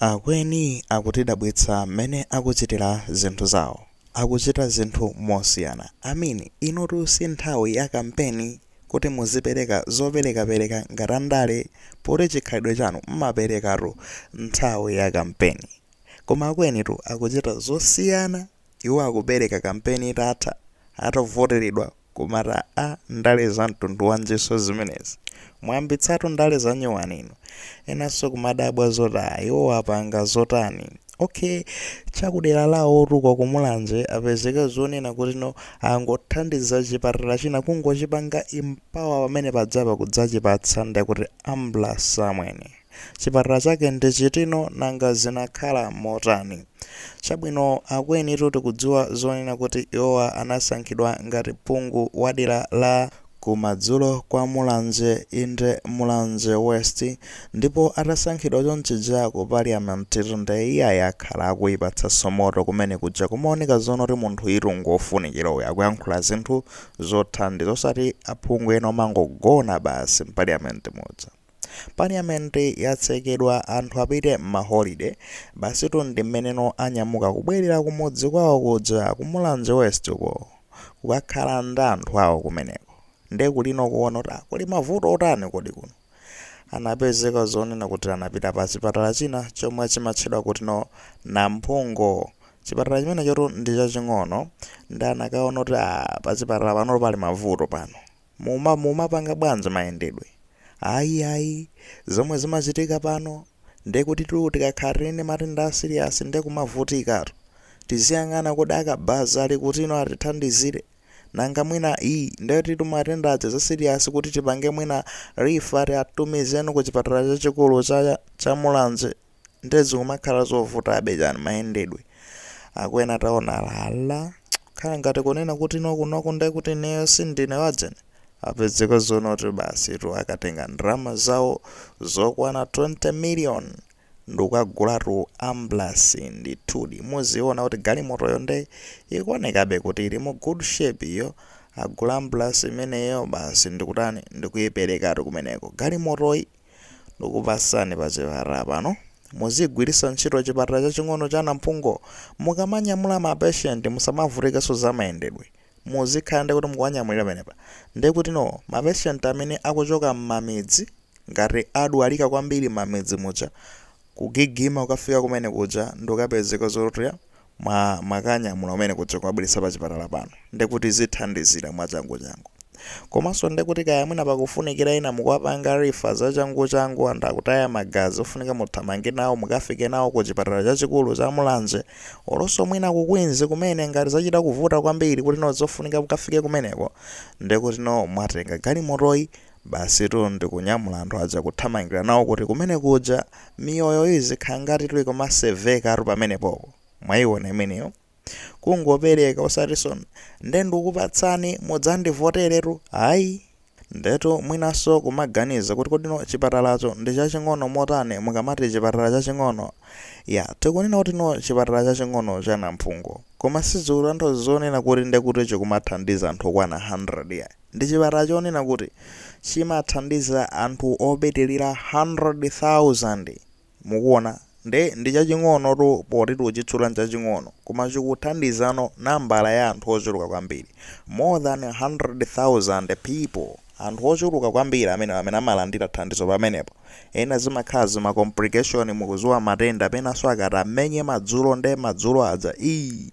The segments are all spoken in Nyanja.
Akweni akutidabwitsa mmene akuchitira zinthu zawo. Akuchita zinthu mosiyana. I mean inotu si nthawi ya kampeni kuti muzipereka zoperekapereka ngati andale poti chikhalidwe chanu mmaperekatu nthawi ya kampeni. Koma akwenitu akuchita zosiyana. Iwo akupereka kampeni itatha, atavoteredwa kumati aa ndale za mtundu wanjinso zimenezi? Mwayambitsatu ndale zanyuwani inu. Enanso kumadabwa zoti aah iwowa apanga zotani? Ok chakudera lawotu kwa ku Mulanje apezeka zonena kuti no angothandiza chipatala china kungochipanga empower pamene padzapa kudzachipatsa ndekuti ambulance amwene. Chipatala chake ndi chitino nanga zinakhala motani? Chabwino akwenitu tikudziwa zonena kuti iwowa anasankhidwa ngati phungu wadera la kumadzulo kwa Mulanje inde Mulanje West ndipo atasankhidwa chonchija ku Parliament tu nde iyayi akhala akuipatsanso moto kumene kuja kumaoneka zoonoti munthuyitu ngofunikira uyu akuyankhula zinthu zothandiza osati aphungu ena omangogona basi m'Parliament muja. Parliament yatsekedwa anthu apite mma holiday basitu ndimmeneno anyamuka kubwerera kumudzi kwawo kuja ku Mulanje West uko kukakhala ndi anthu awo kumeneko nde kulino kuona kuti ah kuli mavuto otani kodi kuno anapezeka zonena kuti anapita pa chipatala china chomwe chimatchedwa kuti no Namphungo chipatala chimenechotu ndichaching'ono nde anakaona kuti ah pachipatala panotu pali mavuto pano Muma mumapanga bwanji mayendedwe? Ayi ayi, zomwe zimachitika pano ndekutitu tikakhala tili ndi matenda a serious nde kumavutikatu. Tiziyang'ana kodi a Kabaza ali kutino atithandizire? Nanga mwina ii ndekutitu matenda aja a serious kuti tipange mwina refer tiatumize ku chipatala chachikulu cha Mulanje? nde zikumakhala zovutabe chani mayendedwe akweni ataona khala ngati kunena kuti nokunoku nde kuti ineyo sindine wadzene apezeka zonoti basi tu akatenga ndrama zawo zokwana 20 million ndukagulatu ambulance ndithudi muziona kuti galimotoyo nde ikuonekabe kuti ili mu good shape iyo agula ambulance imeneyo basi ndikutani ndikuiperekatu kumeneko galimotoyi Ndikupasani pa chipatala pano muzigwiritsa ntchito chipatala chaching'ono cha Namphungo mukamanyamula ma patient musamavutikenso za mayendedwe muzikhala ndekuti mukuwanyamulira pamenepa nde kutino ma patient amene akuchoka mmamidzi ngati adwalika kwambiri mmamidzi muja kugigima kukafika kumene kuja ndikukapezeka zoti mwa mwakanyamula kumene kuja kuwabweretsa pa chipatala pano ndekuti zithandizira mwachanguchangu komanso ndekuti kaya mwina pakufunikira ena mukuwapanga rifa zachanguchangu anthu akutaya magazi ofunika muthamange nawo mukafike nawo ku chipatala chachikulu cha mulanje olonso mwina ku queens kumene ngati zachita kuvuta kwambiri kuti no zofunika mukafike kumeneko ndekuti no mwatenga galimotoyi Basitu ndikunyamula anthu aja kuthamangira nawo kuti kumene kuja, miyoyo izikhala ngatitu ikumasevekatu pamenepopo. Mwayiona imeneyo? Kungopereka osatiso nde ndikukupatsani mudzandivoteretu, ayi. Ndetu mwinanso kumaganiza kuti kodino chipatalacho ndi chaching'ono motani mukamati chipatala chaching'ono, ya tikunena kutino chipatala chaching'ono cha Namphungo, koma sizikutanthauza zonena kuti ndekuti chikumathandiza anthu okwana 100 yayi. Ndi chipatala chonena kuti chimathandiza anthu opitirira 100,000. Mukuona? Ndi, ndi chaching'onotu poti tikuchitchula nchaching'ono, koma chikuthandizano nambala ya anthu ochuluka kwambiri. More than 100,000 people! Anthu ochuluka kwambiri amenewo amene amalandira thandizo pamenepo. Ena zimakhala zama complication, mukudziwa matenda, penanso akati amenye madzulo nde madzulo aja, iih!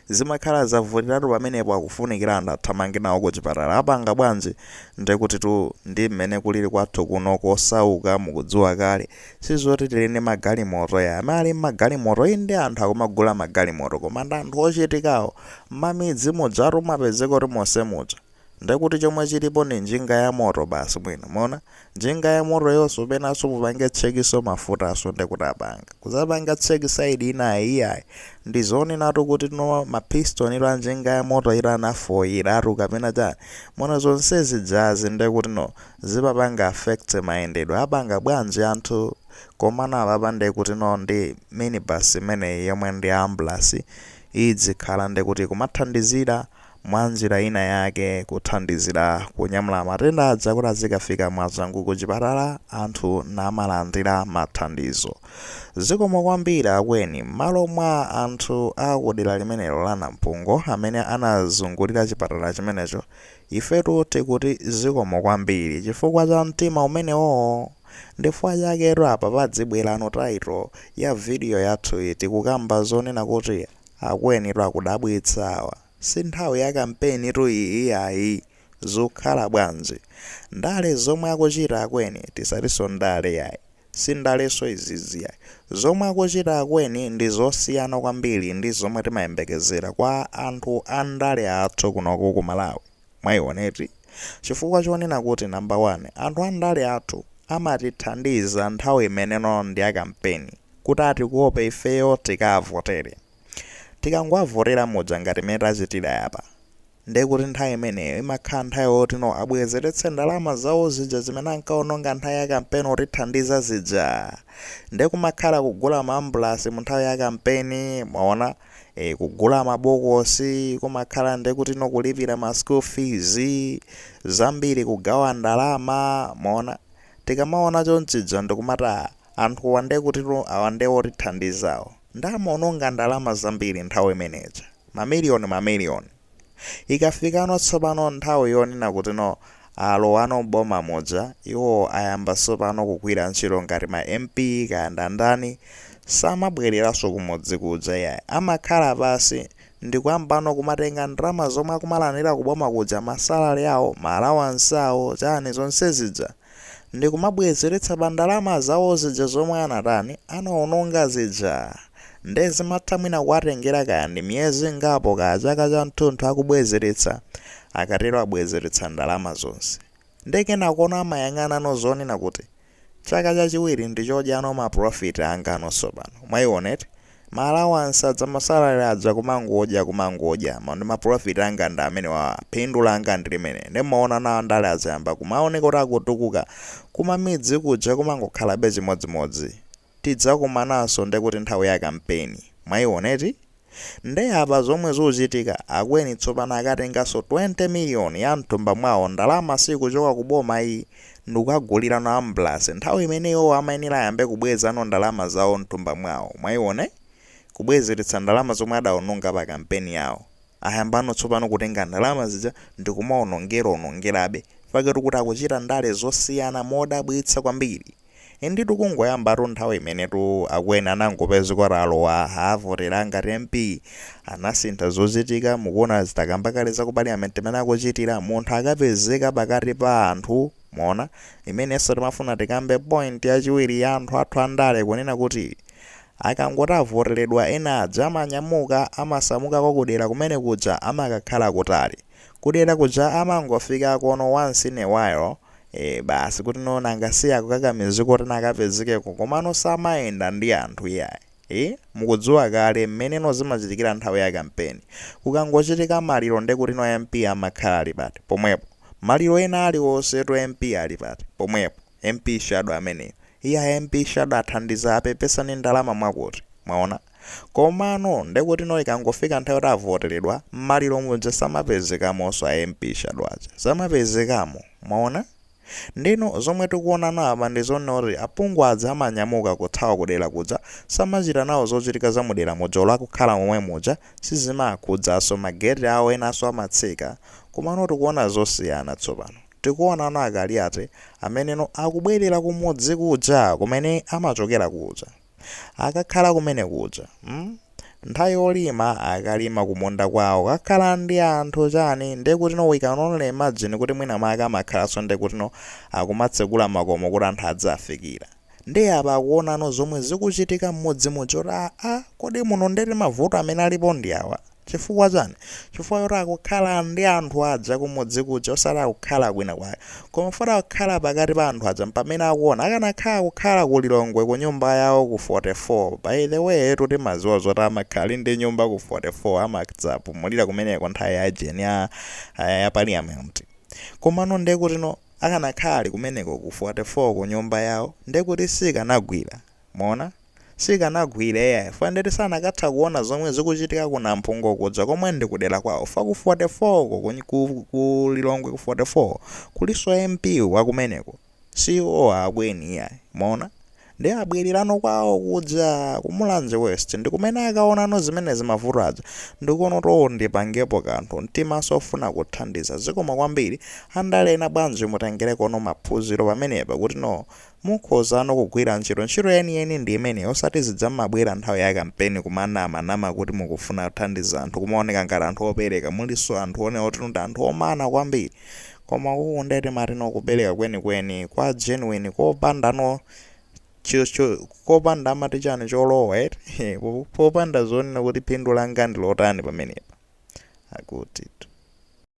Zimakhala zavutiratu pamenepo akufunikira anthu athamange nawo kuchipatala apanga bwanji? Ndekutitu ndi mmene kulili kwathu kuno kosauka mukudziwa kale. Sizoti tili ndi magalimoto ya. Amene ali ndi magalimoto inde anthu akumagula magalimoto koma ndi anthu ochitikawo. Mmamidzi mujatu umapezeka kuti monse muja. Ndiye kuti chomwe chilipo ndi njinga yamoto basi mwina. Mwaona? Njinga yamotoyonso penanso mupange tchekinso mafutaso ndiye kuti apanga. Kudzapanga tcheki side inayi iyayi. Ndi zonenatu kuti no ma piston ilo a njinga yamoto ilo anafoyiratu kapena chani. Mwaona zonse zijazi ndiye kuti no zimapanga affect mayendedwe. Apanga bwanji anthu? Komano apapa ndiye kuti no ndi minibus imeneyi yomwe ndi ambulance idzikhala ndiye kuti ikumathandizira mwanjira ina yake kuthandizira kunyamula matenda aja kuti azikafika mwachangu kuchipatala anthu namalandira mathandizo. Zikomo kwambiri akweni. Mmalo mwa anthu a kudera limenelo la Nampungo amene anazungulira chipatala chimenecho, ifetu tikuti zikomo kwambiri chifukwa cha mtima umenewoo! Ndifukwa chaketu apa pazibwerano title ya video yathuyi tikukamba zonena kuti. Akwenitu akudabwitsa awa. Si nthawi ya kampeni tu iyi iyayi. Zukhala bwanji. Ndale zomwe akuchita akweni tisatinso ndale yayi. Si ndalenso izizi yayi. Zomwe akuchita akweni ndi zosiyana kwambiri ndi zomwe timayembekezera kwa anthu a ndale athu kunoko ku Malawi. Mwaiona eti chifukwa chonena kuti number one anthu andale athu amatithandiza nthawi imeneno ndi ya kampeni kuti atikope ifeyo tikaavotere. Tikangowavotera muja ngati mmene tachitira yapa ndekuti nthawi imeneyo imakhala nthawi yotino abwezeretse ndalama zawo zija zimene ankaononga nthawi ya kampeni kutithandiza zija ndekumakhala kugula maambulasi munthawi ya kampeni mwaona. e, kugula mabokosi kumakhala nde kutino kulipira ma school fees zambiri kugawa ndalama mwaona tikamaona chonchija ndikumati anthuwa nde kutino awa nde otithandizawo nde amaononga ndalama zambiri nthawi imeneja mamiliyoni mamiliyoni Ikafikano tsopano nthawi yonena kutino alowano m'boma muja, iwo ayamba tsopano kugwira ntchito ngati ma MP kaya ndi ndani, samabwereranso kumudzi kuja iyayi, amakhala pansi ndikuyambano kumatenga ndalama zomwe akumalandira kuboma kuja, ma salary awo, ma allowance awo, chani zonse zija. ndikumabwezeretsa pa ndalama zawo zija zomwe anatani, anaononga zija. Nde zimatha mwina kuwatengera kaya ndi miyezi ingapo kaya chaka chamtunthu akubwezeretsa, akatero abwezeretsa ndalama zonse. Nde kenakono amayang'anano zonena kuti, chaka chachiwiri ndichodyano ma profit anga no tsopano. Mwaiona eti? Ma allowance aja ma salary aja kumangodya kumangodya ma ndi ma profit anga ndi amenewawa phindu langa ndi limeneli ndiye mumaona nawo andale aja ayamba kumaoneka kuti akutukuka kumamidzi kuja kumangokhalabe chimodzimodzi tidzakumananso nde kuti nthawi ya kampeni mwaiona eti nde apa zomwe zikuchitika akweni tsopano akatenganso 20 million ya mthumba mwawo ndalama siikuchoka ku boma iyi ndikukagulirano ambulasi nthawi imene iwowo amayenera ayambe kubwezano ndalama zawo mthumba mwawo mwaiona eh kubwezeretsa ndalama zomwe adaononga pa kampeni yawo ayambano tsopano kutenga ndalama zija ndikumaonongera onongerabe mpaketu kuti akuchita ndale zosiyana modabwitsa kwambiri Inditu kungoyambatu nthawi imenetu akweni anangopezeka kuti alowa avotera ngati MP anasintha zochitika mukuona ndatakamba kale za ku parliament mmene akuchitira munthu akapezeka pakati pa anthu mwaona imenenso timafuna tikambe point yachiwiri ya anthu athu andale kunena kuti akangoti avoteredwa ena aja amanyamuka amasamukako kudera kumene kuja amakakhala kutali kudera kuja amangofikako no once in a while ee basi kutino nanga si akukakamizika kuti nkapezekeko komano samayenda ndi anthu iyayi ee mukudziwa kale mmene no zimachitikira nthawi ya kampeni kukangochitika maliro nde kutino MP amakhala ali pati pomwepo maliro ena aliwonsetu MP ali pati pomwepo MP shadow ameneyo iyayi MP shadow athandiza apepesa ndi ndalama mwakuti mwaona Komano ndekutino ikangofika nthawi yoti avoteredwa, m'maliro muja samapezekamonso a MP Shadow aja. Samapezekamo. Mwaona? Ndeno zomwe tikuonano apa ndi zonena kuti aphungu aja amanyamuka kuthawa kudera kuja, samachita nawo zochitika za mudera muja olo akukhala momwe muja, sizimaakhudzaso, ma gate awo enaso amatseka. Komano tikuona zosiyana tsopano. Tikuonano a Kaliati ameneno akubwerera kumudzi kuja kumene amachokera kuja. akakhala kumene kuja mm? nthawi yolima akalima kumunda kwawo kakhala ndi anthu chani ndiye kutino we can only imagine kuti mwina maka amakhalanso ndiye kutino akumatsegula makomo kuti anthu adzafikira ndiye apa akuonano zomwe zikuchitika m'mudzi muja oti aa kodi muno ndeti mavuto amene alipo ndi awa Chifukwa chani? Chifukwa choti akukhala ndi anthu aja kumudzi kuja osati akukhala kwina kwake. Koma foti akukhala pakati pa anthu aja mpamene akuona. Akanakhala akukhala ku Lilongwe kunyumba yawo ku 44, by the way tu timadziwa zoti amakhala ndi nyumba ku 44 amadzapumulira kumeneko nthawi ya ujeni ya ya parliament. Komano ndekutino akanakhala ali kumeneko ku 44 kunyumba yawo ndekuti sikanagwira. Mwaona? Sikanagwira, iyayi, chifukwa ndeti sanakatha kuona zomwe zikuchitika ku Namphungo kuja komwe ndi ku dera kwawo, chifukwa ku 44 uko, ku, ku, ku Lilongwe ku 44, kulinso MP wa kumeneko, si iwo akeni iyayi. Mwaona? Ndiye abwererano kwawo kuja, ku Mulanje West, ndi kumene akaonano zimenezi mavuto aja, ndi kuona kuti oo ndipangepo kanthu, mtimanso ofuna kuthandiza. Zikomo kwambiri, andale ena bwanji mutengerekono maphunziro pamenepa kuti noo, Mukhozano kugwira ntchito, ntchito yeniyeni ndi imeneyi osati zija mmabwera nthawi ya kampeni kumanama nama kuti mukufuna kuthandiza anthu kumaoneka ngati anthu opereka mulinso anthu one oti ndi anthu omana kwambiri koma uku nde timatino kupereka kwenikweni kwa genuine kopanda no cho cho kopanda amati chani cholowa eti heh po popanda zonena kuti phindu langa ndi lotani pamenepa akutitu